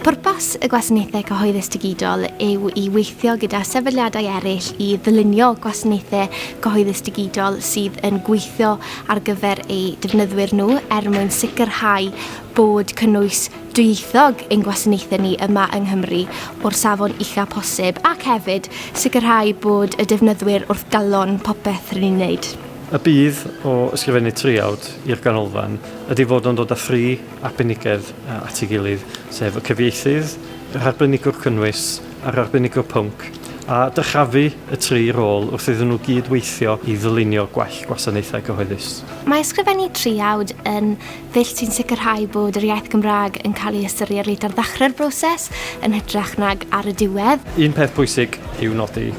Pwrpas y Gwasanaethau Cyhoeddus Digidol yw i weithio gyda sefydliadau eraill i ddylunio gwasanaethau cyhoeddus digidol sydd yn gweithio ar gyfer eu defnyddwyr nhw er mwyn sicrhau bod cynnwys dwyieithog ein gwasanaethau ni yma yng Nghymru o'r safon ucha posib ac hefyd sicrhau bod y defnyddwyr wrth galon popeth rydyn ni'n wneud. Y budd o ysgrifennu traeawd i'r ganolfan ydy fod o'n dod â thri arbenigedd at ei gilydd, sef y cyfieithydd, yr arbenigwr cynnwys a'r arbenigwr pwnc, a dyrchafu y tri rôl wrth iddyn nhw gyd weithio i ddylunio gwell gwasanaethau cyhoeddus. Mae ysgrifennu traeawd yn ddull sy'n sicrhau bod yr iaith Gymraeg yn cael ei ystyried reit ar ddechrau'r broses yn hytrach nag ar y diwedd. Un peth pwysig i'w nodi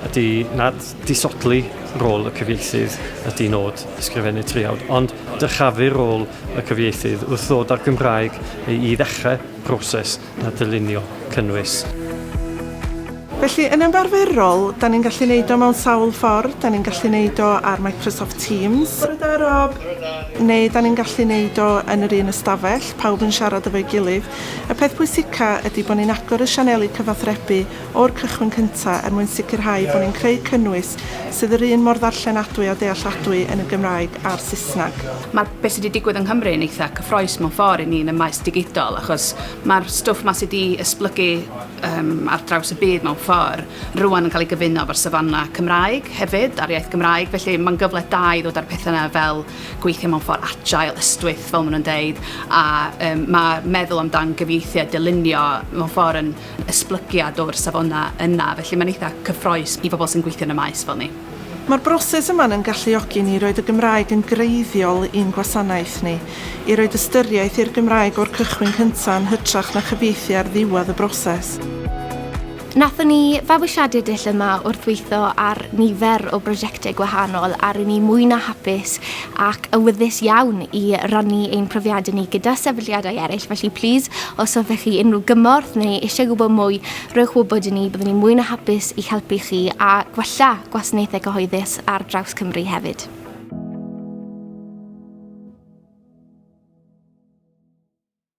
ydy nad Disodli rôl y cyfieithydd ydy nod Ysgrifennu Traeawd, ond dyrchafu rôl y cyfieithydd wrth ddod â'r Gymraeg i ddechrau proses a dylunio cynnwys. Felly, yn ymarferol, 'da ni'n gallu neud o mewn sawl ffordd, 'da ni'n gallu neud o ar Microsoft Teams, Bore da, Rob! neu 'da ni'n gallu neud o yn yr un ystafell, pawb yn siarad efo'i gilydd. Y peth pwysica ydy bo' ni'n agor y sianeli cyfathrebu o'r cychwyn cyntaf er mwyn sicrhau bod ni'n creu cynnwys sydd yr un mor ddarllenadwy a dealladwy yn y Gymraeg a'r Saesneg. Mae be sy 'di digwydd yng Nghymru yn eitha' cyffrous mewn ffordd i ni yn y maes digidol achos mae'r stwff 'ma sy 'di esblygu yym ar draws y byd mewn ffordd rŵan yn cael ei gyfuno efo'r safona' Cymraeg hefyd a'r iaith Gymraeg felly mae'n gyfle da i ddod â'r petha' 'na fel gweithio mewn ffordd agile, ystwyth fel maen nhw'n deud a yym ma' meddwl amdan gyfieithu a dylunio mewn ffordd yn esblygiad o'r safona yna, felly mae'n eitha' cyffroes i bobl sy'n gweithio yn y maes fel ni. Mae'r broses yma yn galluogi ni i roid y Gymraeg yn greiddiol i'n gwasanaeth ni, i roid ystyriaeth i'r Gymraeg o'r cychwyn cynta' yn hytrach na chyfieithu ar ddiwedd y broses. Nathon ni fabwysiadu dull yma wrth weitho ar nifer o brosiecte gwahanol a ry'n ni mwy na hapus ac awyddus iawn i rannu ein profiadau ni gyda sefydliadau eraill, felly plîs, os hoffech chi unrhyw gymorth neu eisiau gwybod mwy, rhowch wybod i ni, byddwn ni'n mwy na hapus i'ch helpu chi a gwella gwasanaethau cyhoeddus ar draws Cymru hefyd.